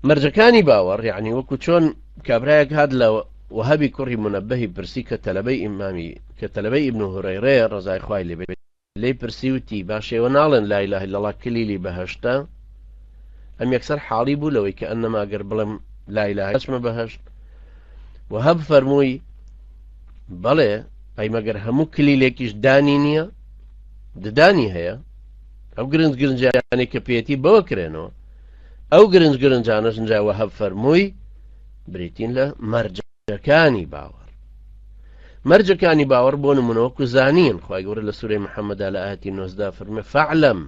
مەرجەکانی باوەڕ یەعنی وەکو چۆن کابرایەک هات لە وەهەبی کوڕی منەبەهی پرسی کە تەلەبەی ئیمامی کە تەلەبەی ئیبن هورەیرەیە ڕەزای خوای لێ بێت لێی پرسی وتی باشە ئێوە ناڵێن لا اله الا الله کلیلی بەهەشتە ئەم یەکسەر حاڵی بوو لەوەی کە ئەنەما گەر بڵێم لا اله ئەچمە بەهەشت وەهەب فەرمووی بەڵێ ئەی مەگەر هەموو کلیلێکیش دانی نییە ددانی هەیە ئەو گرنج گرنجیانەی کە پێێتی بەوە کرێنەوە ئەو گرنج گرنجانەش نجا وەهەب فەرمووی بریتین لە مەرجەکانی باوەڕ مەرجەکانی باوەڕ بۆ نمونەوە کوزانین خی گەورە لە سوورەی محەممەدا لە ئاهاتی نۆزدا فرمە فعلم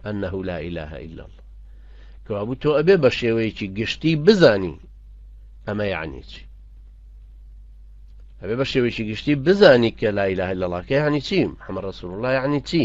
ئەنه لا إله إلا الله کەوابوو تۆ ئەبێ بە شێوەیەکی گشتی بزانی ئەمە یعنی چی ئەبێ بە شێوەیەکی گشتی بزانی کە لا إله إلا الله کە یعنی چی حەمە ڕسول الله یعنی چی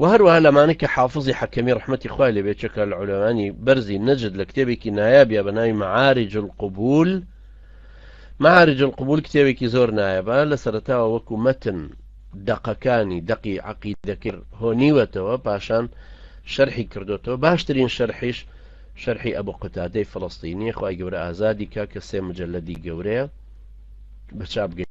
وە هەروەها لەمانە کە حافزی حەکەمی ڕەحمەتی خوای لێ بێت چەکە لە عولەمانی بەرزی نەجد لە کتێبێکی نایابە بە ناوی معارج القبول معارج القبول کتێبێکی زۆر نایەبە لە سەرتاوە وەکو مەتن دەقەکانی دەقی عقیدەکرد هۆنیوەتەوە پاشان شەرحی کردوتەوە باشترین شەرحیش شەرحی ئەبوو قوتادەی فلستینی خی گەورە ئازادی کا کە سێ مجللەدی گەورەیە بە چاپگەی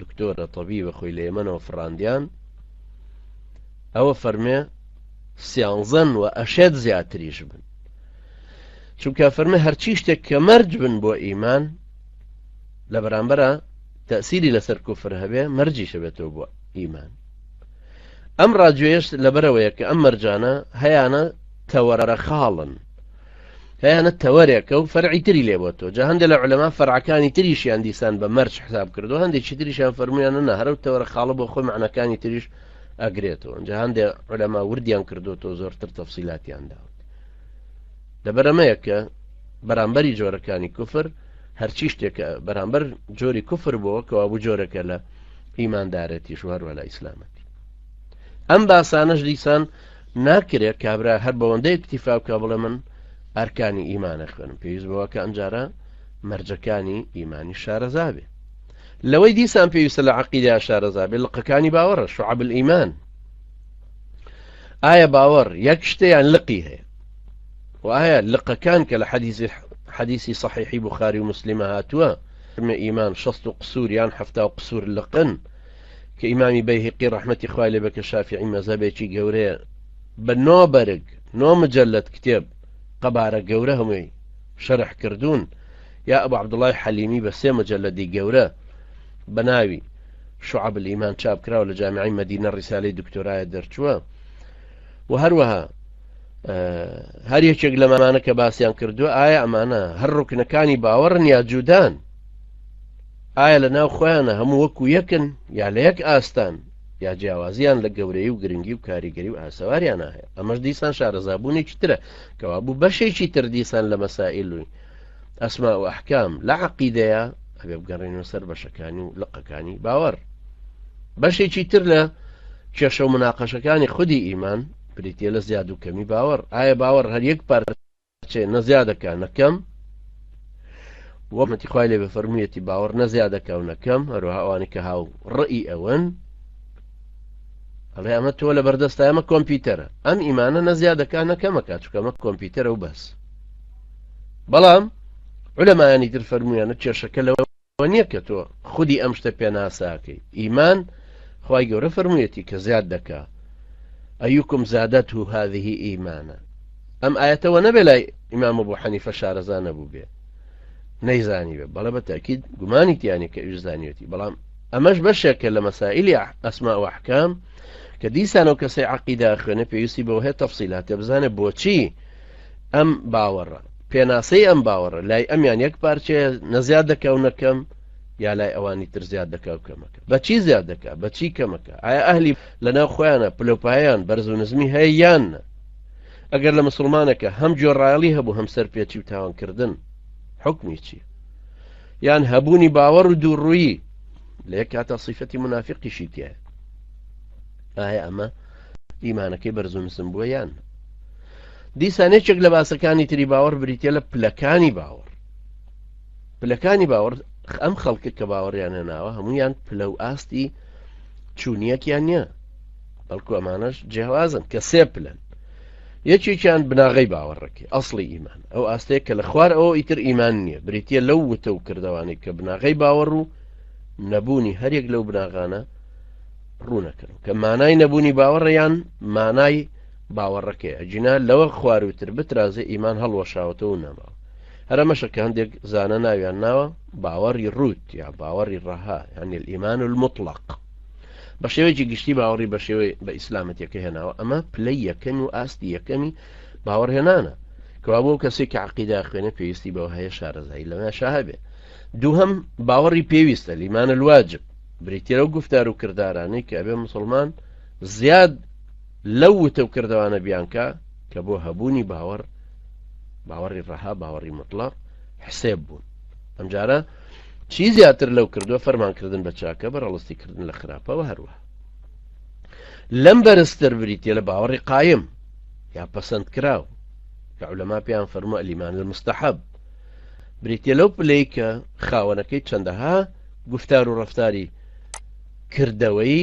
دکتۆرە تەبیبە خۆی لە یەمەنەوە فڕاندیان ئەوە فەرمێ سیانزەن و ئەشێت زیاتریش بن چونکە فەرمە هەرچی شتێک کە مەرج بن بۆ ئیمان لە بەرامبەرە تەسیری لەسەر کوفر هەبێ مەرجی شەبێتەوە بۆ ئیمان ئەم ڕاجێشت لەبەرەوەیە کە ئەم مەرجانە هەیانە تەوەرە خاڵن هەیانە تەوەرێکە و فەرعی تری لێ بۆ تۆ جا هەندێک لە علەما فەرعەکانی تریشیان دیسان بە مەرج حساب کردو هەندێکی تریشیان فەرمویانە نە هەرو تەوەرە خاڵە بۆ خۆی معنەکانی تریش ئەگرێتەوە جا هەندێک علەما وردیان کردو تۆ زۆرتر تەفسیلاتیان داوت لەبەرەمەیە کە بەرامبەری جۆرەکانی کوفر هەرچی شتێکە بەرامبەر جۆری کوفر بۆ کەوابوو جۆرەکە لە ئیماندارەتی شوهر ولا ئیسلامەتی ئەم باسانەش دیسان ناکرێ کابرا هەر بەوەندە اکتیفا بکە بڵێ من ئەرکانی ئیمانە خوێنم پێویست بەوە کە ئەنجارە مەرجەکانی ئیمانی شارەزابێ لەوەی دیسان پێویستە لە عقیدا شارەزابێ لقەکانی باوەڕە شعب ئیمان ئایا باوەڕ یەک شتیان لقی هەیە وایە لقەکان کە لە حەدیزی حەدیسی صحیحی بخاری و مسللیمە هاتووە فرمە ئیمان شەست و قسوور یان هەفتا و قسوور لقن کە ئیمامی بەیهەقی ڕەحمەتی خوای لێبێ کە شافیعی مەزەبێکی گەورەیە بە نۆ بەرگ نۆ مجلد کتێب قەبارە گەورە هەمووی شەرح کردوون یا ئەبو عەبدوڵای حەلیمی بە سێ مجلدی گەورە بە ناوی شعب الإيمان چاپ کراوە لە جامعی مدینە ڕیسالەی دکتۆرایە دەرچووە و هەروەها هەر یەکێک لەمانە کە باسییان کردووە ئایا ئەمانە هەر ڕوکنەکانی باوەڕن یا جودان ئایا لە ناو خۆیانە هەموو وەکو یەکن یا لە یەک ئاستان یا جیاوازیان لە گەورەی و گرنگی و کاریگەری و ئاسەواریانە هەیە ئەمەش دیسان شارەزابوونێکی ترە کەوابوو بەشێکی تر دیسان لە مەسائلوی ئەسما و ئەحکام لە عقیدەیە ئەبێ بگەڕێنەوە سەر بەشەکانی و لقەکانی باوەڕ بەشێکی تر لە کێشە و مناقەشەکانی خودی ئیمان بریتە لە زیاد و کەمی باوەڕ ئایا باوەڕ هەر یەک پارە چێ نە زیادەکە نە کەم وە مەتی خوای لێ بەفەرموویەتی باوەڕ نە زیادەکە و نەکەم هەروها ئەوانی کە هاو ڕئی ئەوەن ئەڵێ ئەمە تۆ لە بەردەستە ئەمە کۆمپیوتەرە ئەم ئیمانە نە زیادەکە نەکەمەکە چکەمە کۆمپیوتەرە و بەس بەڵام علەمایانی تر فەرمویانە کێشەکە لەوە ئەوە نیە کە تۆ خودی ئەم شتە پێناسەاکەی ئیمان خوای گەورە فەرموویەتی کە زیاد دەکا ئەیوکم زادەت و هذه ئیمانە ئەم ئاەتەوە نەبێ لای ئیمام بۆ حەنیفە شارەزا نەبوو بێ نەیزانی بێ بەڵە بە تاکیید گومانی تیانی کە ئوش زانیەتی بەڵام ئەمەش بەشێکە لە مەسائلی ئەسما وحکام کە دیسانەوە کەسەی عقیدا خوێنە پێویستی بەوە هەیە تەفسیلاتێ بزانێ بۆچی ئەم باوەڕە، پێناسەی ئەم باوەڕە لای ئەمیان یەک پارچەیە نەزیاد دەکاو نەکەم یا لای ئەوانی تر زیاد دەکا و کەمەکە بەچی زیاد دەکا بەچی کەمەکە ئایا ئەهلی لەناو خۆیانە پلۆپایان بەرز و نزمی هەیە یان نە ئەگەر لە مسلمانەکە هەم جۆڕایڵی هەبوو هەم سەر پێچی و تاوانکردن حکمی چی یان هەبوونی باوەڕ و دووڕوویی لە یەک کاتە سیفەتی منافقیشی تێ ئایا ئەمە ئیمانەکەی بەرزونسم بووە یان دیسان یەکێک لە باسەکانی تری باوەڕ بریتە لە پلەکانی باوەڕ پلەکانی باوەڕ ئەم خەڵکە کە باوەڕیان هێناوە هەمویان پلە و ئاستی چوونیەکیان نییە بەڵکو ئەمانەش جیاوازن کە سێ پلەن یەکێکیان بناغی باوەڕەکە ئەاصلی ئیمان ئەو ئاستەیە کە لە خوار ئەو ئیتر ئیمان نییە بریتە لەو وتە و کردوانی کە بناغی باوەڕ و نەبوونی هەرێک لەو بناغانە ڕوونەکەن کە مانای نەبوونی باوەڕیان مانای باوەڕەکەی ئەگینا لەوە خوارووتر بترازێ ئیمان هەڵوەشاوەتەوە و نەماوە. هەر ئەمەشە کە هەندێک زانا ناویان ناوە باوەڕی ڕووت یا باوەڕی ڕەها یان الئیمان المطلق. بە شێوەیەکی گشتی باوەڕی بە شێوەی بە ئیسلامەتەکە هێناوە ئەمە پلەی یەکەم و ئاستی یەکەمی باوەڕهێنانە کەوا بۆ کەسی کە عقیدا خوێنە پێویستی بەوە هەیە شارەزایی لەمە شاهبێ دووهم باوەڕی پێویستە لیمان الواجب بریتێرە و گفتار و کردارانەی کە ئەبێ مسلمان زیاد لەو وتە و کردەوانە بیانکە کە بۆ هەبوونی باوەڕ باوەڕی ڕەها باوەڕی مطلق حسێب بوون ئەمجارە چی زیاتر لەو کردووە فەرمانکردن بە چاکە بە ڕەڵستی کردن لە خراپەوە هەروە لەم بەرزتر بریتە لە باوەڕی قایم یا پەسەند کراو کە لەما پێیان فەرموە ئەلیمان لە مستحب بریتە لەو پلەی کە خاوەنەکەی چەندەها گفتار و ڕفتاری کردەوەی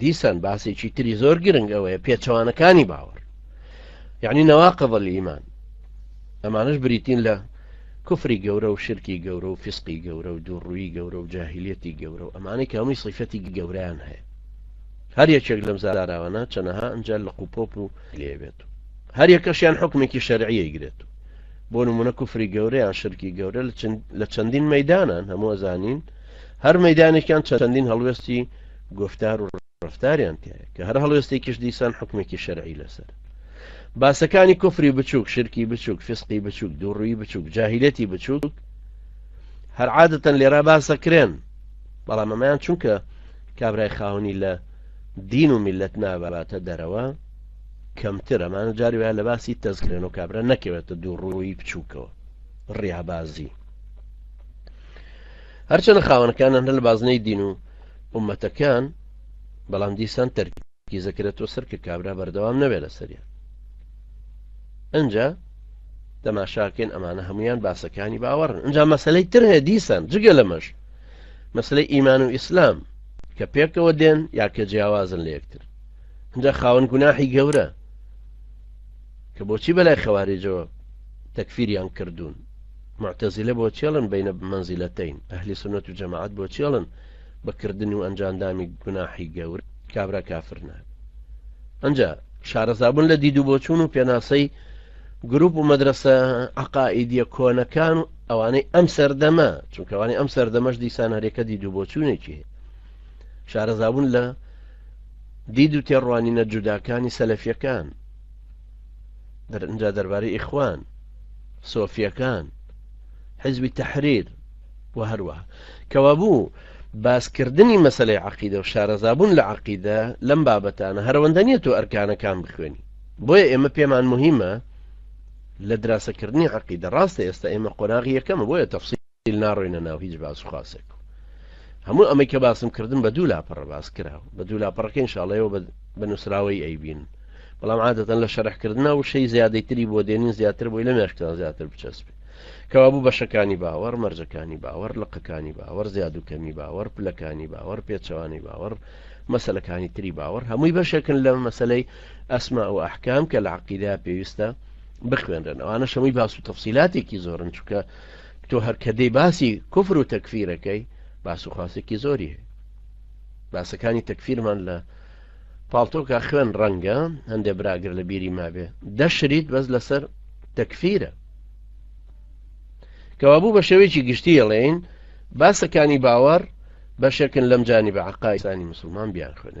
دیسان باسێکی تری زۆر گرنگ ئەوەیە پێچەوانەکانی باوەڕ یعنی نەواقەبە لە ئیمان ئەمانش بریتین لە کفری گەورە و شرکی گەورە و فسقی گەورە و دووڕووی گەورە و جاهلیەتی گەورە و ئەمانەی کە هەمووی سیفەتی گەوریان هەیە هەر یەکێک لەم زاراوانە چەنەها ئەجار لە قوپۆپ و لێبێت و هەر یەکەشیان حکومێکی شەرعیە گرێت و بۆ نمونە کوفری گەورەیان شرکی گەورە لە چەندین مەدانان هەموو زانین هەر مەدانێکیان چەندین هەڵوێستی گوفتار و ڕەفتاریان تیایە کە هەر هەڵوێستێکیش دیسان حکمێکی شەرعی لەسەر باسەکانی کوفری بچووک شرکی بچووک فسقی بچووک دووڕووی بچووک جاهیلەتی بچووک هەر عادەتەن لێرا باسەکرێن بەڵام ئەمەیان چونکە کابرای خاونی لە دین و میلەت ناباتە دەرەوە کەمتر ئەمانە جاری وایە لە باسی تەزکرێن و کابرا نەکەوێتە دوو ڕووی بچووکەوە ڕیابازی هەرچەنە خاونەکانە هەر لە بازنەی دین و ئومەتەکان بەڵام دیسان تەرکیزەکرێتەوە سەر کە کابرا بەردەوام نەبێ لەسەریان ئەجا تەماشاکەین ئەمانە هەمویان باسەکانی باوەڕن ئەجا مەسلەی تر هەیە دیسان جگە لەمەش مەسلەی ئیمان و ئیسلام کە پێکەوە دێن یا کە جیاوازن لە یەکتر ئەجا خاون گوناحی گەورە کە بۆچی بەلای خەواریجەوە تەکفیریان کردوون معتەزیلە بۆ چێڵن بەینە مەنزیلەتەین ئەهلی سنەت و جەماعەت بۆ چێڵن بە کردن و ئەنجاندامی گوناحی گەور کابرا کافر نابێت ئەجا شارەزابوون لە دید و بۆچوون و پێناسەی گروپ و مەدرسە عقائیدە کۆنەکان و ئەوانەی ئەم سەردەمە چونکەوانی ئەم سەردەمەش دیسان هەرێکە دید و بۆچوونێکی شارەزابوون لە دید و تێڕوانینە جوداکانی سەلەفیەکان درنجا دەربارەی ئیخوان سۆفیەکان حزبی تحریر و هەروە کەوابوو باسکردنی مەسلەی عقیدە و شارەزابوون لە عقیدە لەم بابەتانە هەرەوەندە نیە تۆ ئەرکانەکان بخوێنی بۆیە ئێمە پێمان مهمە لە دراسەکردنی عقیدە ڕاستە ئێستا ئێمە قۆناغی یەکەمە بۆیە تەفسی ئیل ناڕۆینە ناو هیچ باس و خاسێک و هەموو ئەمەی کە باسم کردن بە دوو لاپەڕە باس کرا و بە دوو لاپەڕەکە ئینشاڵەیەوە بە بە نووسراوەی ئەیبین بەڵام عادەتەن لە شەرحکردنا و شەی زیادەی تری بۆ دێنین زیاتر بۆی لە مێشکتان زیاتر بچەسپێ کەوابوو بەشەکانی باوەڕ مەرجەکانی باوەڕ لقەکانی باوەڕ زیاد و کەمی باوەڕ پلەکانی باوەڕ پێچەوانەی باوەڕ مەسلەکانی تری باوەڕ هەمووی بەشێکن لە مەسلەی ئەسما و ئەحکام کە لە عقیدا پێویستە بخوێنرێن ئەوانە شەمووی باس و تەفسیلاتێکی زۆرن چونکە تۆ هەر کە دێی باسی کوفر و تەکفیر ئەکەی باس و خواسێکی زۆری هەیە باسەکانی تەکفیرمان لە پاڵتۆکا خوێن ڕەنگە هەندێ براگر لە بیری مابێ دەشریت بەس لەسەر تەکفیرە کەوابوو بە شێوەیەکی گشتی ئەڵێین باسەکانی باوەڕ بەشێکن لەم جانی بە عقایسانی مسلمان بیان خوێنێت